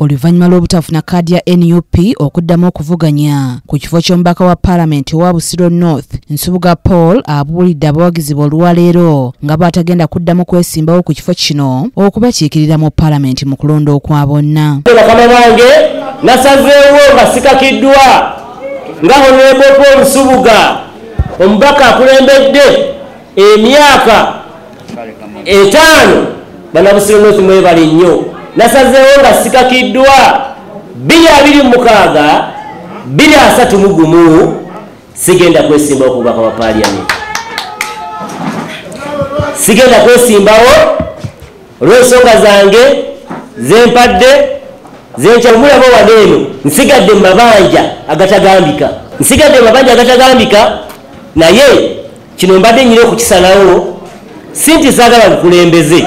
oluvannyuma lw'obutafuna kaadi ya nup okuddamu okuvuganya ku kifo ky'omubaka wa paalamenti owa busiro north nsubuga paul abuulidde abawagizi be olwaleero nga bw'atagenda kuddamu kwesimbawo ku kifo kino okubakiikirira mu paalamenti mu kulonda okwa bonna bakama bange nasazeewo nga sikakiddwa nga honorable paul nsubuga omubaka akulembedde emyaka etaano banabusiro north mwebali nnyo nasazeewo nga sikakiddwa 226 23 sigenda kwesimba okubaka wa paliament sigenda kwesimbawo olwensonga zange zempadde zenkyamulaba wade eno nsigadde mu mabanja agatagambika nsigadde mu mabanja agatagambika naye kino mbadde nyina okukisalawo si nti saagala bukulembeze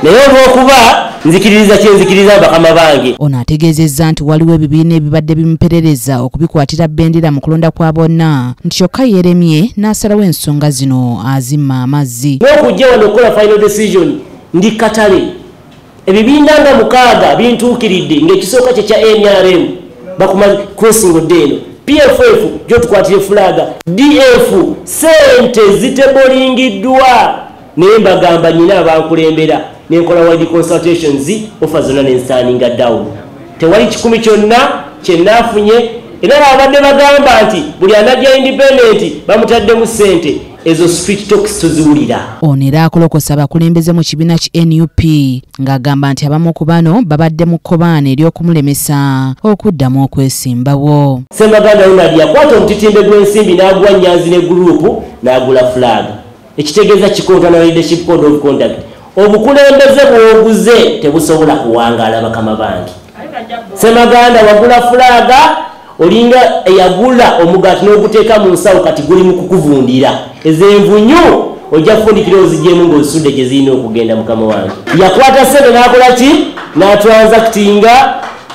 naye olwokuba nzikiririza kyenzikiriza bakama bange ono ategeezezza nti waliwo ebibiina ebibadde bimuperereza okubikwatira bendera mu kulonda kwa bonna nti kyokka yeremye n'asalawo ensonga zino azimma amazzi n'okujja wano okukola final decision ndi katale ebibiina nga mukaaga bintuukiridde ngaekisooka kye kya nrm bakuma kwesingo dde eno pff gyotukwatira efulaaga df sente zitebolingiddwa naye mbagamba nyina abankulembera nenkola wide consultations ofa zonna nensaninga down tewali kikumi kyonna kyenafunye era abadde bagamba nti buli anajja independent bamutaddemu sente ezo street talks tuziwulira ono era akolokosa abakulembeze mu kibiina ki nup ng'agamba nti abamu ku bano babadde mu kkobaana ery'okumulemesa okuddamu okwesimbawo semaganda ronald yakwata omutitimbe gw'ensimbi n'agwa nyanzi ne guruupu n'agula fulaaga ekitegeeza kikontana leadership code of conduct Obukulembeze bwoguze tebusobola kuwangaala bakama bange. Semaganda wagula fulaaga olinga eyagula omugaati n'oguteeka mu nsawo kati guli mu kukuvundira. Ezenvunyu ojja kufundikira ozigyemu ng'ozisudde gye zirina okugenda mukama wange. Yakwata ssente n'akola ki? N'atransakitinga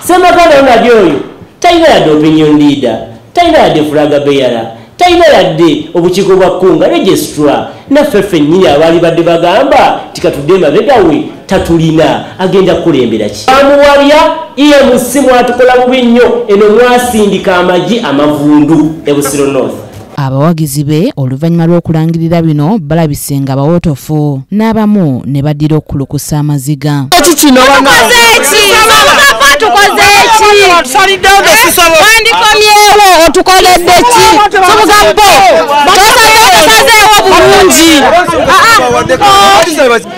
semaganda onali oyo talina yadde opinion leader talina yadde fulaaga beyala. Talina yadde obukiiko bwa Kkunga, Registrar, naffe ffennyini abaalibadde bagamba nti katudde emabega we tatulina, agenda kukulembera ki? Twamuwabya, EMC mwatukola bubi nnyo, eno mwasindika amagi amavundu e Busiro North. Abawagizi be oluvannyuma lw'okulangirira bino balabise nga bawootofu. n'abamu ne baddira okukulukusa amaziga wandikomyewo otukoledde ki tubugambo tosazeewo bulungi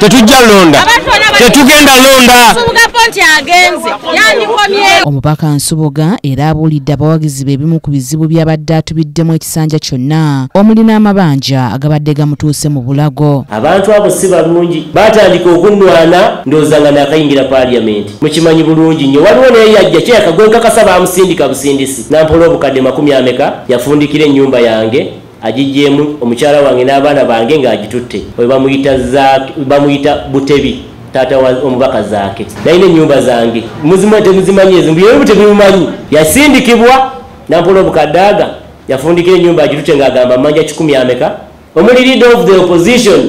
tetujja londa tetugenda londa omubaka nsubuga era abuulidde abawagizi be ebimu ku bizibu by'abadde atubiddemu kisanja kyonna omuli n'amabanja agabadde gamutuuse mu bulago. Abantu abo si balungi. Baatandika okunnwana ndowooza nga naakayingira Paaliyamenti. Mukimanyi bulungi nnyo. Waliwo n'eyajja kyeyaka gwe nkakasa baamusindika busindisi n'ampola obukadde makumi ameka, yafundikira ennyumba yange agiggyeemu omukyala wange n'abaana bange ng'agitutte. Oyo bamuyita Zaake, bamuyita Butebi. Taata wa omubaka Zaake. Nalina ennyumba zange. Muzimanyi temuzimanyi ezo? Mbu ye Butebi mumanyi. Yasindikibwa. Nampolo Mukadaaga yafundikira ennyumba agirute ng'agamba mmanja kikumi ameka omuli leader of the opposition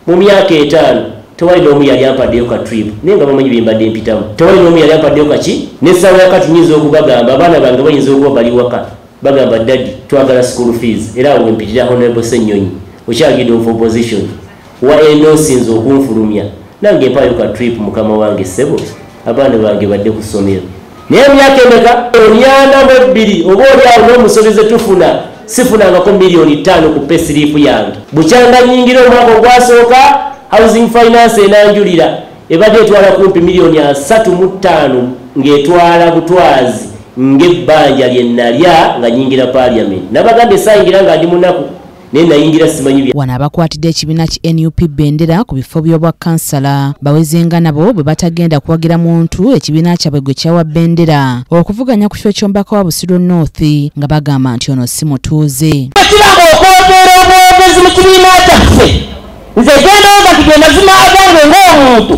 mu myaka etaano tewali n'omu yali ampaddeyo ka trip naye nga bamanyi byembadde mpitamu tewali n'omu yali ampaddeyo kaki n'essaawa yakati nyinza okubagamba abaana bange bayinza okuba bali waka bagamba dadi twagala school fees era awo wempitira honorable ssenyonyi okyagidde of opposition Wa enda osinze okunfulumya nange mpaayo ka trip mukama wange ssebo abaana bange badde ku ssomero naye emyaka emeka emyana mu ebbiri oba olyawo n'omusobi ze tufuna sifunangako miliyoni ttaano ku pesiriipu yange bukyanga nyingira omwaka ogwasooka housing finance enanjulira ebadde etwala kumpi miliyoni asatu mu ttaano ng'etwala butwazi ng'ebbanja lye nalya nga nyingira paliament nabagamba esaayingira nga ndi munaku naye nayingira simanyi bya wano abakwatidde ekibiina ki nup bendera ku bifo by'obwa kansala bawezenga nabo bwe batagenda kuwagira muntu ekibiina kyabwe gwe kyawa bendera okuvuganya ku kifo ky'omubaka wa busiro north nga bagamba nti ono si mutuuze kiraba okwogera obwogezi mu kibiina kyaffe nze genda oga nti gemazima agange ng'omuntu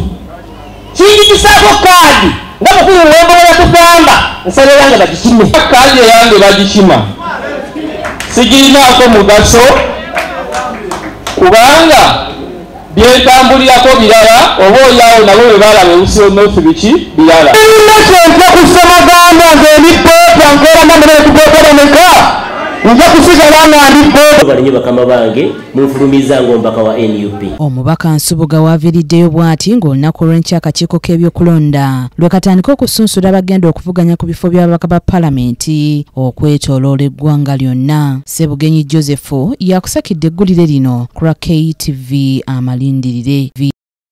kinjigisaako kaadi nga mukulu wembolo yatugamba nsaba eyange bagikime kaadi eyange bagikima sigirinaako mugaso kubanga byentambulirako birala oba olyawo nabo bebalaba eusinosi biki birala kyontya kusoma gamba nze ndi pepa nkola namunetugokolemeka nja kusigala nga ndi pepa balinye bakama bange munfulumizza ng'omubaka wa nup omubaka nsubuga waaviriddeyo bw'ati ng'olunaku olw'enkya akakiiko k'ebyokulonda lwe katandika okusunsula abagenda okuvuganya ku bifo by'ababaka ba palamenti okwetoloola eggwanga lyonna sebugenyi joseph yakusakidde eggulire lino ku lwa ktv amalindirire